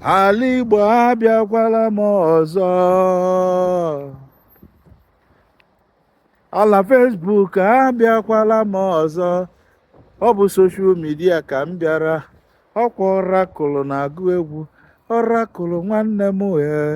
ala igbo abịakwala m ọzọ ala facebook abịakwala m ọzọ ọ bụ social media ka m bịara ọkwa ọrakụlụ na-agụ egwu ọrakụlụ nwanne m ee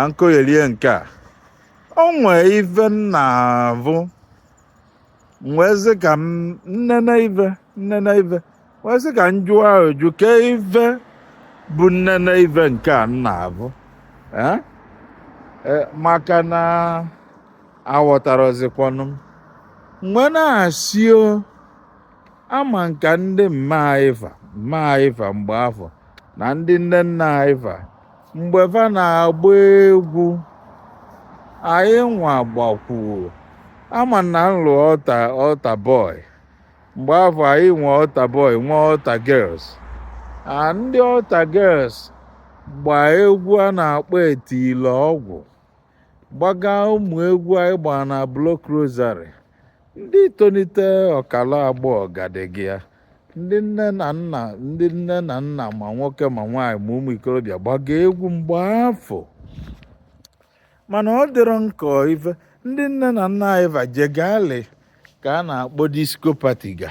ankoyelie nke a o nwee ife m na-avụ m wee sị ka m nnene ife nnene ife wee sị ka m jụọ ajụjụ ke ife bụ nnene ife nke a m na-avụ Eh? Eh, maka na aghọtarọzikwanụ m m wee na-asị o ama nka ndị mma anyị fa mma anyị fa mgbe afụ na ndị nne nna anyị fa mgbe fa na-agba egwu anyị nwa gbakwuo ama na m lụ altar boy mgbe afụ anyị nwe altar boy nwe altar girls a ndị altar girls gbaa egwu a na-akpọ atilọgwụ gbaga ụmụ egwu anyị gbara na block rosary ndị tonite ọkala agbọghọ ga dịga ya ndị nne na nna ndị nne na nna ma nwoke ma nwaanyị ma ụmụ ikorobịa gbaga egwu mgbe afụ mana ọ dịrọ nke ife ndị nne na nna anyị fa jegalị ka a na-akpọ disco party ga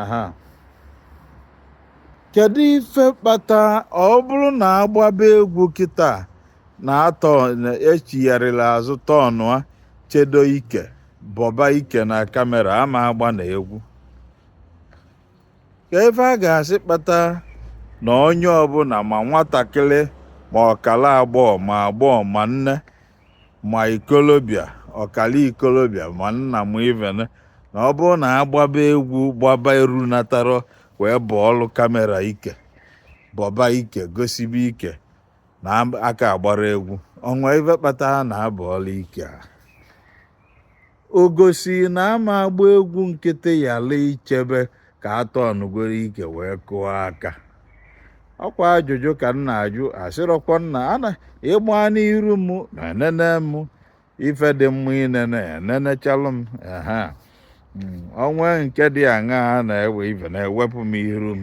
aha kedu ife kpata ọ bụrụ na a gbaba egwu kịta na atọ echigharịla azụ tọọnụa chedo ike bọba ike na kamera ama agba na egwu ka ife a ga-asị kpata na onye ọbụla ma nwatakịrị ma ọkala agbọghọ ma agbọghọ ma nne ma ikolobịa ọkala ikolobịa ma nna m iven na ọ bụrụ na a gbaba egwu gbaba eru natara wee bọọlụ kamera ike bọba ike gosibe ike na aka agbara egwu o nwe ife kpata a na-abọọlụ ike a o gosiri na a ma agba egwu nkịtị yala ichebe ka a tọọnụgoro ike wee kụọ aka ọkwa ajụjụ ka m na-ajụ asịrọkwa m na a na ịgba n'iru m ma enene m ife dị mma inene enenechalụ m ehe Mm, o nwe nke dị aṅa a na-ewe ife na-ewepụ m iru m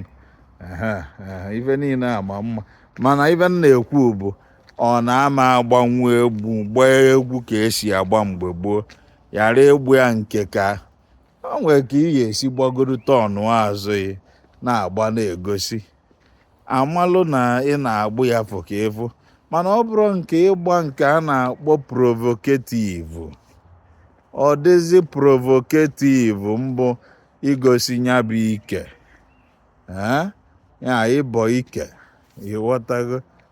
ehe ehe ife niile ama mma mana ife m na-ekwu bụ ọ na-ama agbanwu egwu gbaa egwu ka e si agba mgbe gboo ghara ịgba ya nke ka o nwere ka ị ga-esi gbagodo tọnụa azụ ị na-agba na-egosi a malụ na ị na-agba ya fụ ka ịfụ mana ọ bụrụ nke ịgba nke a na-akpọ provocative ọ dịzi provocative mbụ igosi ya bụ ike ee ya ịbọ ike ị ghọtago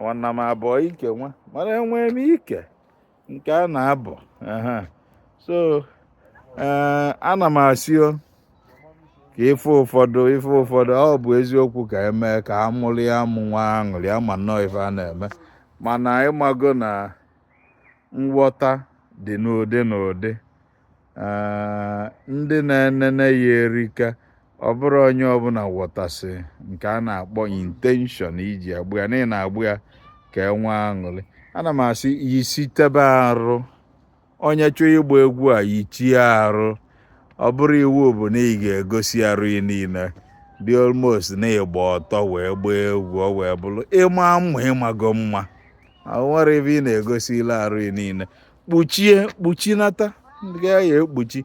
nwanna m abọ ike nwa mana enwee m ike nke a na-abọ so eh, ana m asị o ka ife ụfọdụ ife ụfọdụ ọ bụ eziokwu ka e mee ka a mụrịa amụ nwee aṅụrị a ma nnọọ ife a na-eme mana ị mago na nghọta dị n'ụdị n'ụdị ndị na-enene ya erika ọ bụrọ onye ọbụla ghọtasị nke a na-akpọ intention i ji agba ya na ị na-agba ya ka e nwee aṅụrị ana m asị yisitebe arụ onye chọọ ịgba egwu a yichie arụ ọ bụrọ iwu bụ na ị ga-egosi arụ ị niile be almost n'ịgba ọtọ wee gbaa egwu ọ wee bụrụ ịma mma ị mago mma nwere ebe ị na-egosi ile arụ ị niile kpuchie kpuchinata ndị ị ya-ekpuchi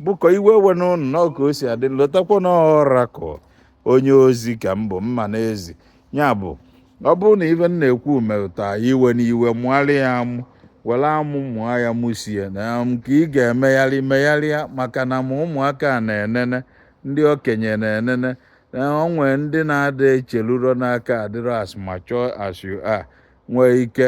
biko iwe ewena ụnụ na ka o si adị lotakwa na oracle onye ozi ka m bụ mma n'ezi ya bụ ọ bụrụ na ife m na-ekwu metụta ị ewena iwe mụgharị ya amụ were amụ mụọ ya mụsie na nke ị ga-emegharị megharịa maka na ma ụmụaka na-enene ndị okenye na-enene na o nwee ndị na-ada echeruro na-aka adịrọ as mature as you are nwee ike